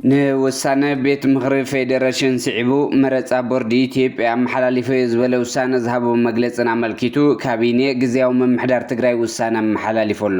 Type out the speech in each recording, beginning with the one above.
ንውሳነ ቤት ምኽሪ ፌዴሬሽን ስዒቡ መረፃ ቦርዲ ኢትዮጵያ ኣመሓላሊፈ እዩ ዝበለ ውሳነ ዝሃቦ መግለፅን ኣመልኪቱ ካቢኔ ግዝያዊ ምምሕዳር ትግራይ ውሳነ ኣመሓላሊፉ ኣሎ።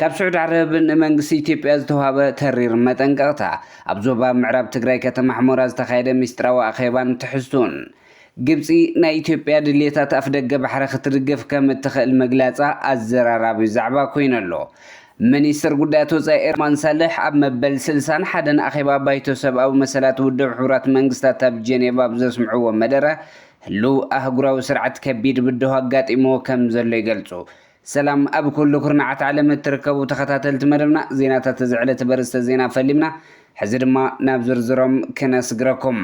ካብ ስዑድ ዓረብ ንመንግስቲ ኢትዮጵያ ዝተውሃበ ተሪር መጠንቀቕታ፣ ኣብ ዞባ ምዕራብ ትግራይ ከተማ ሕሞራ ዝተኻየደ ሚስጥራዊ ኣኼባን ትሕዝቱን፣ ግብጺ ናይ ኢትዮጵያ ድልየታት ኣፍደገ ባሕሪ ክትድግፍ ከም እትኽእል ምግላጻ ኣዘራራቢ ዛዕባ ኮይኑ ኣሎ። ምኒስትር ጉዳያት ወጻኢ ኤርማን ሳልሕ ኣብ መበል ስልሳን ሓደን ኣኼባ ባይቶ ሰብኣዊ መሰላት ውድብ ሕቡራት መንግስታት ኣብ ጀኔቫ ኣብ ዘስምዕዎ መደረ ህሉው ኣህጉራዊ ስርዓት ከቢድ ብድሆ ኣጋጢምዎ ከም ዘሎ ይገልጹ ሰላም ኣብ ኩሉ ኩርናዓት ዓለም እትርከቡ ተኸታተልቲ መደብና ዜናታት እዚ ዕለት በርስተ ዜና ፈሊምና ሕዚ ድማ ናብ ዝርዝሮም ክነስግረኩም።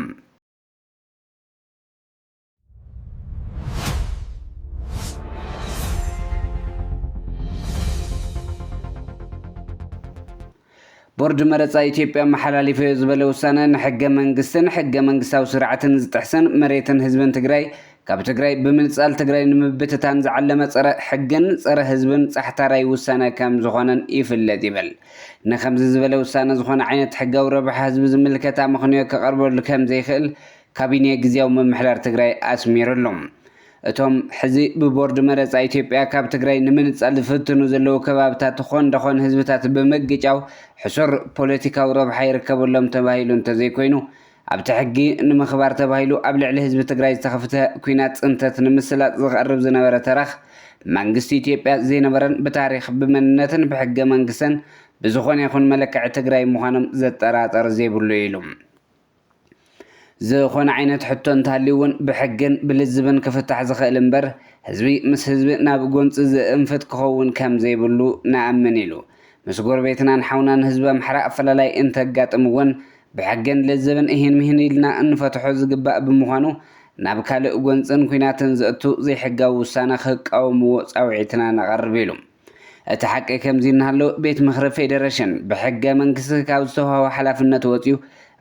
ቦርድ መረፃ ኢትዮጵያ ኣመሓላሊፈዮ ዝበለ ውሳነ ንሕገ መንግስትን ሕገ መንግስታዊ ስርዓትን ዝጥሕስን መሬትን ህዝብን ትግራይ ካብ ትግራይ ብምንፃል ትግራይ ንምብትታን ዝዓለመ ፀረ ሕግን ፀረ ህዝብን ፃሕታራይ ውሳነ ከም ዝኾነን ይፍለጥ ይብል። ንከምዚ ዝበለ ውሳነ ዝኾነ ዓይነት ሕጋዊ ረብሓ ህዝቢ ዝምልከት ኣመኽንዮ ከቐርበሉ ከም ዘይኽእል ካቢኔ ግዝያዊ ምምሕዳር ትግራይ ኣስሚርሉ። እቶም ሕዚ ብቦርድ መረፃ ኢትዮጵያ ካብ ትግራይ ንምንፃል ዝፍትኑ ዘለዉ ከባብታት ዝኾን ደኾን ህዝብታት ብምግጫው ሕሱር ፖለቲካዊ ረብሓ ይርከበሎም ተባሂሉ እንተዘይኮይኑ ኣብቲ ሕጊ ንምኽባር ተባሂሉ ኣብ ልዕሊ ህዝቢ ትግራይ ዝተኸፍተ ኲናት ፅንተት ንምስላጥ ዝቐርብ ዝነበረ ተረኽ መንግስቲ ኢትዮጵያ ዘይነበረን ብታሪኽ ብመንነትን ብሕገ መንግስትን ብዝኾነ ይኹን መለክዒ ትግራይ ምዃኖም ዘጠራጥር ዘይብሉ ኢዩ ኢሉ። ዝኾነ ዓይነት ሕቶ እንተሃልዩ እውን ብሕግን ብልዝብን ክፍታሕ ዝኽእል እምበር ህዝቢ ምስ ህዝቢ ናብ ጎንፂ ዝእንፍት ክኸውን ከምዘይብሉ ንኣምን ኢሉ። ምስ ጎረቤትናን ሓውናን ህዝቢ ኣምሓራ ኣፈላላይ እንተጋጥም እውን ብሕግን ልዝብን እሂን ምሂን ኢልና እንፈትሖ ዝግባእ ብምዃኑ ናብ ካልእ ጎንፅን ኲናትን ዘእቱ ዘይሕጋዊ ውሳነ ክቃወምዎ ፃውዒትና ነቐርብ ኢሉ። እቲ ሓቂ ከምዚ እናሃሎ ቤት ምኽሪ ፌዴሬሽን ብሕገ መንግስቲ ካብ ዝተውሃቦ ሓላፍነት ወፂኡ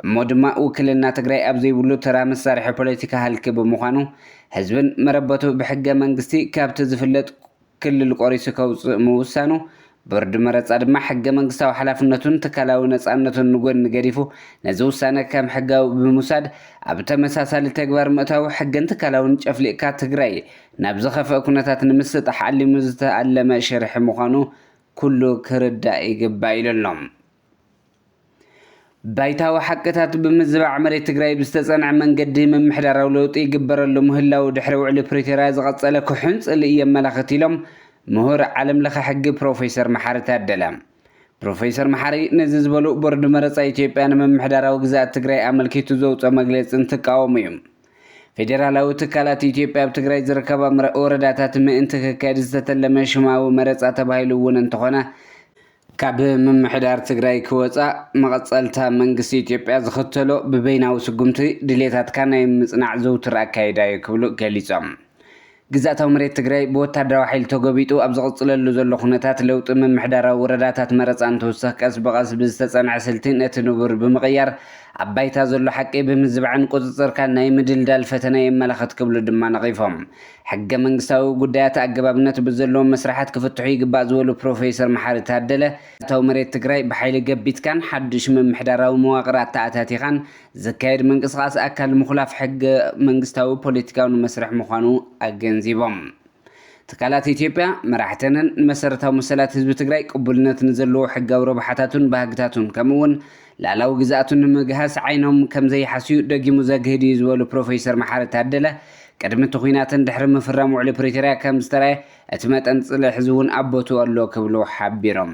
እሞ ድማ ውክልና ትግራይ ኣብ ዘይብሉ ተራ መሳርሒ ፖለቲካ ሃልኪ ብምዃኑ ህዝብን መረበቱ ብሕገ መንግስቲ ካብቲ ዝፍለጥ ክልል ቆሪሱ ከውፅእ ምውሳኑ ቦርድ መረፃ ድማ ሕገ መንግስታዊ ሓላፍነቱን ትካላዊ ነፃነቱን ንጎኒ ገዲፉ ነዚ ውሳነ ከም ሕጋዊ ብምውሳድ ኣብ ተመሳሳሊ ተግባር ምእታዉ ሕግን ትካላውን ጨፍሊቕካ ትግራይ ናብ ዝኸፍኣ ኩነታት ንምስጣሕ ዓሊሙ ዝተኣለመ ሽርሒ ምዃኑ ኩሉ ክርዳእ ይግባእ ኢሉ ኣሎ። ባይታዊ ሓቅታት ብምዝባዕ መሬት ትግራይ ብዝተፀንዐ መንገዲ ምምሕዳራዊ ለውጢ ይግበረሉ ምህላዉ ድሕሪ ውዕሊ ፕሪቶርያ ዝቐፀለ ክሑን ፅልኢ የመላኽት ኢሎም ምሁር ዓለም ለኸ ሕጊ ፕሮፌሰር መሓሪ ታደለ። ፕሮፌሰር መሓሪ ነዚ ዝበሉ ቦርድ መረፃ ኢትዮጵያ ንምምሕዳራዊ ግዝኣት ትግራይ ኣመልኪቱ ዘውፅኦ መግለፂ እንትቃወሙ እዩ። ፌዴራላዊ ትካላት ኢትዮጵያ ኣብ ትግራይ ዝርከባ ምረ- ወረዳታት ምእንቲ ክካየድ ዝተተለመ ሽማዊ መረፃ ተባሂሉ እውን እንተኾነ ካብ ምምሕዳር ትግራይ ክወፃእ መቐፀልታ መንግስቲ ኢትዮጵያ ዝኽተሎ ብበይናዊ ስጉምቲ ድሌታትካ ናይ ምፅናዕ ዝውቱር ኣካይዳ እዩ ክብሉ ገሊፆም። ግዝኣታዊ መሬት ትግራይ ብወታደራዊ ሓይሊ ተጎቢጡ ኣብ ዝቕፅለሉ ዘሎ ኩነታት ለውጢ ምምሕዳራዊ ወረዳታት መረፃ እንትውሰኽ ቀስ ብቐስ ብዝተፀንዐ ስልቲ ነቲ ንቡር ብምቕያር ኣብ ባይታ ዘሎ ሓቂ ብምዝባዕን ቁፅፅርካ ናይ ምድልዳል ፈተና የመላኽት ክብሉ ድማ ነቒፎም። ሕገ መንግስታዊ ጉዳያት ኣገባብነት ብዘለዎም መስርሓት ክፍትሑ ይግባእ ዝበሉ ፕሮፌሰር መሓሪ ታደለ፣ ግዝኣታዊ መሬት ትግራይ ብሓይሊ ገቢትካን ሓዱሽ ምምሕዳራዊ መዋቕር ኣተኣታቲኻን፣ ዝካየድ ምንቅስቓስ ኣካል ምኹላፍ ሕገ መንግስታዊ ፖለቲካዊ መስርሕ ምዃኑ ኣገንዚቦም። ትካላት ኢትዮጵያ፣ መራሕተንን ንመሰረታዊ መሰላት ህዝቢ ትግራይ ቅቡልነት ንዘለዎ ሕጋዊ ረብሓታቱን ባህግታቱን ከምኡ እውን ልኣላዊ ግዝኣቱ ንምግሃስ ዓይኖም ከምዘይሓስዩ ደጊሙ ዘግህድ እዩ ዝበሉ ፕሮፌሰር መሓሪ ታደለ ቅድሚ እቲ ኹናትን ድሕሪ ምፍራም ውዕሊ ፕሪቶርያ ከምዝተርኣየ እቲ መጠን ፅልኢ ሕዚ እውን ኣብ ቦትኡ ኣሎ ክብሉ ሓቢሮም።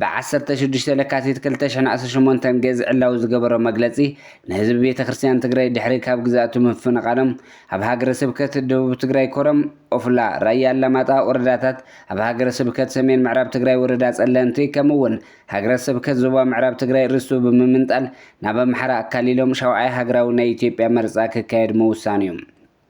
ብ ዓሰርተ ሽዱሽተ ለካቲት ክልተ ሽሕን ዓሰርተ ሸሞንተን ገዝ ዕላዊ ዝገበሮ መግለጺ፣ ንህዝቢ ቤተ ክርስትያን ትግራይ ድሕሪ ካብ ግዝኣቱ ምፍንቓሎም ኣብ ሃገረ ስብከት ደቡብ ትግራይ ኮረም፣ ኦፍላ፣ ራያ ኣላማጣ ወረዳታት፣ ኣብ ሃገረ ስብከት ሰሜን ምዕራብ ትግራይ ወረዳ ፀለምቲ ከምኡ እውን ሃገረ ስብከት ዞባ ምዕራብ ትግራይ ርስቱ ብምምንጣል ናብ ኣምሓራ ኣካሊሎም ሻውዓይ ሃገራዊ ናይ ኢትዮጵያ መርፃ ክካየድ ምውሳኑ እዩ።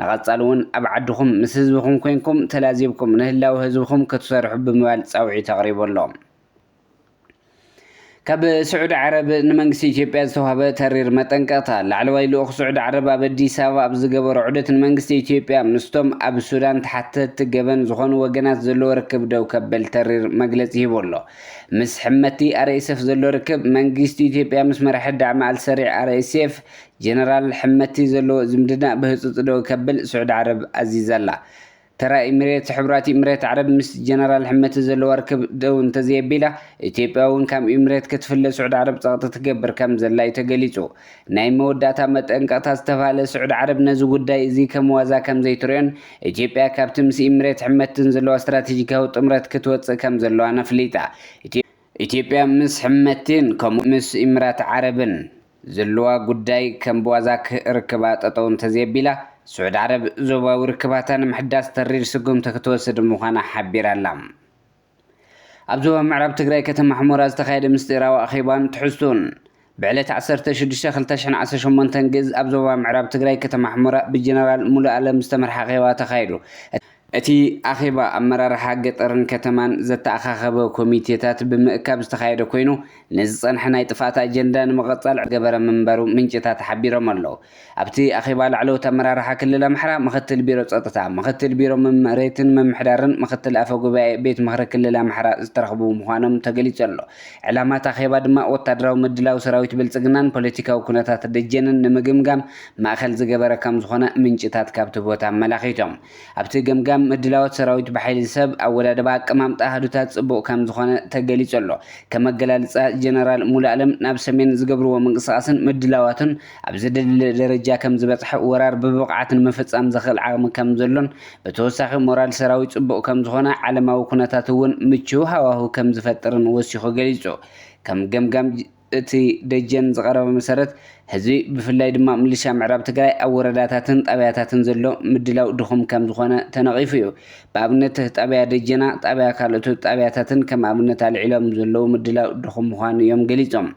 ንቐፃሊ እውን ኣብ ዓድኹም ምስ ህዝብኹም ኮይንኩም ተላዚብኩም ንህላወ ህዝብኹም ክትሰርሑ ብምባል ፃውዒት ኣቕሪቡ ኣሎ። ካብ ስዑዲ ዓረብ ንመንግስቲ ኢትዮጵያ ዝተውሃበ ተሪር መጠንቀቕታ። ላዕለዋይ ልኡኽ ስዑዲ ዓረብ ኣብ ኣዲስ ኣበባ ኣብ ዝገበሮ ዑደት ንመንግስቲ ኢትዮጵያ ምስቶም ኣብ ሱዳን ተሓተትቲ ገበን ዝኾኑ ወገናት ዘለዎ ርክብ ደው ከበል ተሪር መግለፂ ሂቡ ኣሎ። ምስ ሕመቲ RSF ዘሎ ርክብ፣ መንግስቲ ኢትዮጵያ ምስ መራሒ ዳዕመ ኣልሰሪዕ RSF ጀነራል ሕመቲ ዘለዎ ዝምድና ብህጹጽ ደው ከብል ስዑዲ ዓረብ ኣዚዛ'ላ። ተራ ኢሚሬት፣ ሕቡራት ኢሚሬት ዓረብ ምስ ጀነራል ሕመቲ ዘለዋ ርክብ ደው እንተዘየቢላ፣ ኢትዮጵያ'ውን ካብ ኢሚሬት ክትፍለ ስዑዲ ዓረብ ጸቕጢ ትገብር ከምዘላ'ዩ ተገሊጹ። ናይ መወዳእታ መጠንቀቕታ ዝተባህለ ስዑዲ ዓረብ ነዚ ጉዳይ እዚ ከም ዋዛ ከምዘይትሪኦን ኢትዮጵያ ካብቲ ምስ ኢሚሬት ሕመትን ዘለዋ ስትራቴጂካዊ ጥምረት ክትወጽእ ከምዘለዋን ኣፍሊጣ። ኢትዮጵያ ምስ ሕመቲን ከምኡ ምስ ኢሚራት ዓረብን፣ ዘለዋ ጉዳይ ከም ብዋዛ ክርክባ ጠጠው እንተዘየቢላ፣ ስዑድ ዓረብ ዞባዊ ርክባታ ንምሕዳስ ተሪር ስጉምቲ ክትወስድ ምዃና ሓቢራ'ላ። ኣብ ዞባ ምዕራብ ትግራይ ከተማ ሑመራ ዝተኻየደ ምስጢራዊ ኣኼባን ትሕዝቶኡን ብዕለት ዓሰርተ ሽዱሽተ ክልተ ሽሕን ዓሰርተ ሸሞንተን ግእዝ ኣብ ዞባ ምዕራብ ትግራይ ከተማ ሑመራ ብጀነራል ሙሉኣለም ዝተመርሓ ኣኼባ ተኻይዱ። እቲ ኣኼባ ኣመራርሓ ገጠርን ከተማን ዘተኣኻኸበ ኮሚቴታት ብምእካብ ዝተኻየደ ኮይኑ፣ ንዝፀንሐ ናይ ጥፍኣት ኣጀንዳ ንምቐፃል ዝተገበረ ምንባሩ ምንጭታት ሓቢሮም ኣለው። ኣብቲ ኣኼባ ላዕለዎት ኣመራርሓ ክልል ኣምሓራ፣ ምክትል ቢሮ ፀጥታ፣ ምክትል ቢሮ መሬትን ምምሕዳርን ምክትል ኣፈ ጉባኤ ቤት ምኽሪ ክልል ኣምሓራ ዝተረኽቡ ምዃኖም ተገሊፁ ኣሎ። ዕላማ እቲ ኣኼባ ድማ ወታደራዊ ምድላው ሰራዊት ብልፅግናን ፖለቲካዊ ኩነታት ደጀንን ንምግምጋም ማእኸል ዝገበረ ከምዝኾነ ምንጭታት ካብቲ ቦታ ኣመላኺቶም። ኣብቲ ገምጋም ምድላዎት ሰራዊት ብሓይሊ ሰብ፣ ኣወዳድባ፣ ኣቀማምጣ ኣሃዱታት ጽቡቕ ከም ዝኾነ ተገሊጹ ኣሎ። ከም ኣገላልጻ ጀነራል ሙሉኣለም ናብ ሰሜን ዝገብርዎ ምንቅስቓስን ምድላዋቱን ኣብ ዘደልድል ደረጃ ከም ዝበጽሐ ወራር ብብቕዓት ንምፍጻም ዘኽእል ዓቕሚ ከም ዘሎን ብተወሳኺ ሞራል ሰራዊት ጽቡቕ ከም ዝኾነ ዓለማዊ ኩነታት እውን ምቹው ሃዋህው ከም ዝፈጥርን ወሲኹ ገሊጹ። ከም ገምጋም እቲ ደጀን ዝቐረበ መሰረት፣ ህዝቢ ብፍላይ ድማ ምልሻ ምዕራብ ትግራይ ኣብ ወረዳታትን ጣብያታትን ዘሎ ምድላው ድኹም ከም ዝኾነ ተነቒፉ እዩ። ብኣብነት ጣብያ ደጀና፣ ጣብያ ካልኦት ጣብያታትን ከም ኣብነት ኣልዒሎም ዘለዉ ምድላው ድኹም ምዃኑ እዮም ገሊፆም።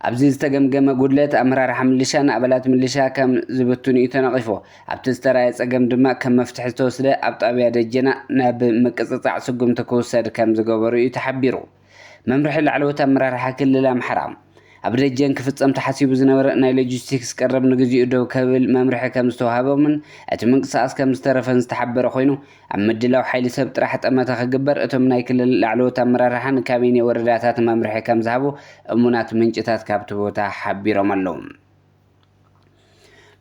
ኣብዚ ዝተገምገመ ጉድለት ኣመራርሓ ምልሻ ንኣባላት ምልሻ ከም ዝብትኑ እዩ ተነቒፉ። ኣብቲ ዝተርኣየ ፀገም ድማ ከም መፍትሒ ዝተወስደ ኣብ ጣብያ ደጀና ናብ ምቅፅፃዕ ስጉምቲ ክውሰድ ከም ዝገበሩ እዩ ተሓቢሩ። መምርሒ ላዕለዎት ኣመራርሓ ክልል ኣምሓራ፣ ኣብ ደጀን ክፍጸም ተሓሲቡ ዝነበረ ናይ ሎጂስቲክስ ቀረብ ንግዚኡ ደው ከብል መምርሒ ከም ዝተውሃቦምን እቲ ምንቅስቓስ ከም ዝተረፈን ዝተሓበረ ኮይኑ፣ ኣብ ምድላው ሓይሊ ሰብ ጥራሕ ጠመተ ክግበር እቶም ናይ ክልል ላዕለዎት ኣመራርሓ ንካቢኔ ወረዳታት መምርሒ ከም ዝሃቡ እሙናት ምንጭታት ካብቲ ቦታ ሓቢሮም ኣለው።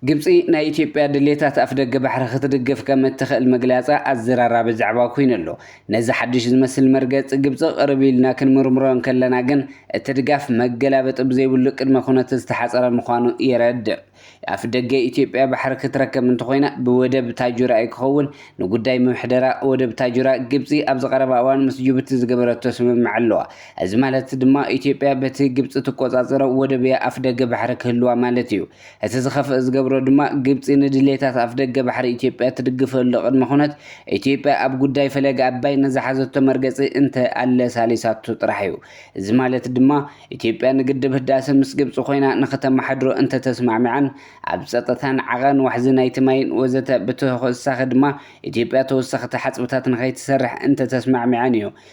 ግብፂ ናይ ኢትዮጵያ ድሌታት ኣፍደገ ባሕሪ ክትድግፍ ከም እትኽእል ምግላፃ ኣዘራራቢ ዛዕባ ኮይኑ ኣሎ። ነዚ ሓድሽ ዝመስል መርገፂ ግብፂ ቅርብ ኢልና ክንምርምሮ እንከለና ግን እቲ ድጋፍ መገላበጢ ብዘይብሉ ቅድመ ኩነት ዝተሓፀረ ምዃኑ የረድእ። ኣፍደገ ኢትዮጵያ ባሕሪ ክትረከብ እንተኾይና ብወደብ ታጁራ እዩ ክኸውን። ንጉዳይ ምሕደራ ወደብ ታጁራ ግብፂ ኣብዚ ቀረባ እዋን ምስ ጅቡቲ ዝገበረቶ ስምምዕ ኣለዋ። እዚ ማለት ድማ ኢትዮጵያ በቲ ግብፂ ትቆፃፀሮ ወደብያ ኣፍደገ ባሕሪ ክህልዋ ማለት እዩ። እቲ ዝኸፍእ ዝገብሮ ድማ ግብፂ ንድሌታት ኣፍደገ ባሕሪ ኢትዮጵያ ትድግፈሉ ቅድመ ኩነት ኢትዮጵያ ኣብ ጉዳይ ፈለገ ኣባይ ንዝሓዘቶ መርገፂ እንተ ኣለሳሊሳቶ ጥራሕ እዩ። እዚ ማለት ድማ ኢትዮጵያ ንግድብ ህዳሰ ምስ ግብፂ ኮይና ንክተመሓድሮ እንተተስማዕሚዓን ኣብ ፀጥታን ዓቐን ዋሕዚ ናይቲ ማይን ወዘተ ብተወሳኺ ድማ ኢትዮጵያ ተወሰኽቲ ሓፅብታት ንከይትሰርሕ እንተተስማዕሚዐን እዩ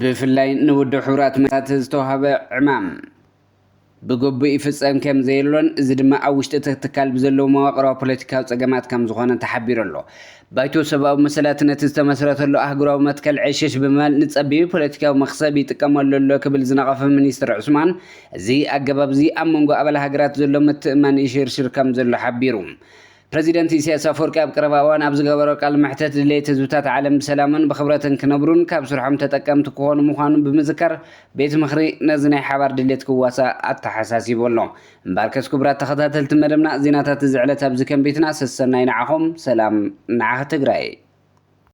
ብፍላይ ንውድብ ሕቡራት መንግስታት ዝተዋህበ ዕማም ብግቡእ ይፍጸም ከም ዘየሎን እዚ ድማ ኣብ ውሽጢ እቲ ትካል ብዘለዉ መዋቕራዊ ፖለቲካዊ ጸገማት ከም ዝኾነ ተሓቢሩ ኣሎ። ባይቶ ሰብኣዊ መሰላት ነቲ ዝተመስረተሉ ኣህጉራዊ መትከል ዕሽሽ ብምባል ንጸቢብ ፖለቲካዊ መኽሰብ ይጥቀመሉ ኣሎ ክብል ዝነቐፈ ሚኒስተር ዑስማን እዚ ኣገባብ እዚ ኣብ መንጎ ኣባል ሃገራት ዘሎ ምትእምማን ይሽርሽር ከም ዘሎ ሓቢሩ። ፕረዚደንት ኢሳያስ ኣፍወርቂ ኣብ ቀረባ እዋን ኣብ ዝገበሮ ቃል መሕተት ድሌት ህዝብታት ዓለም ብሰላምን ብኽብረትን ክነብሩን ካብ ስርሖም ተጠቀምቲ ክኾኑ ምዃኑ ብምዝካር ቤት ምኽሪ ነዚ ናይ ሓባር ድሌት ክዋሳእ ኣተሓሳሲቡ ኣሎ። እምበኣርከስ ክቡራት ተኸታተልቲ መደብና ዜናታት እዚ ዕለት ኣብዚ ከም ቤትና ሰሰናዩ ንዓኹም ሰላም ንዓኽ ትግራይ።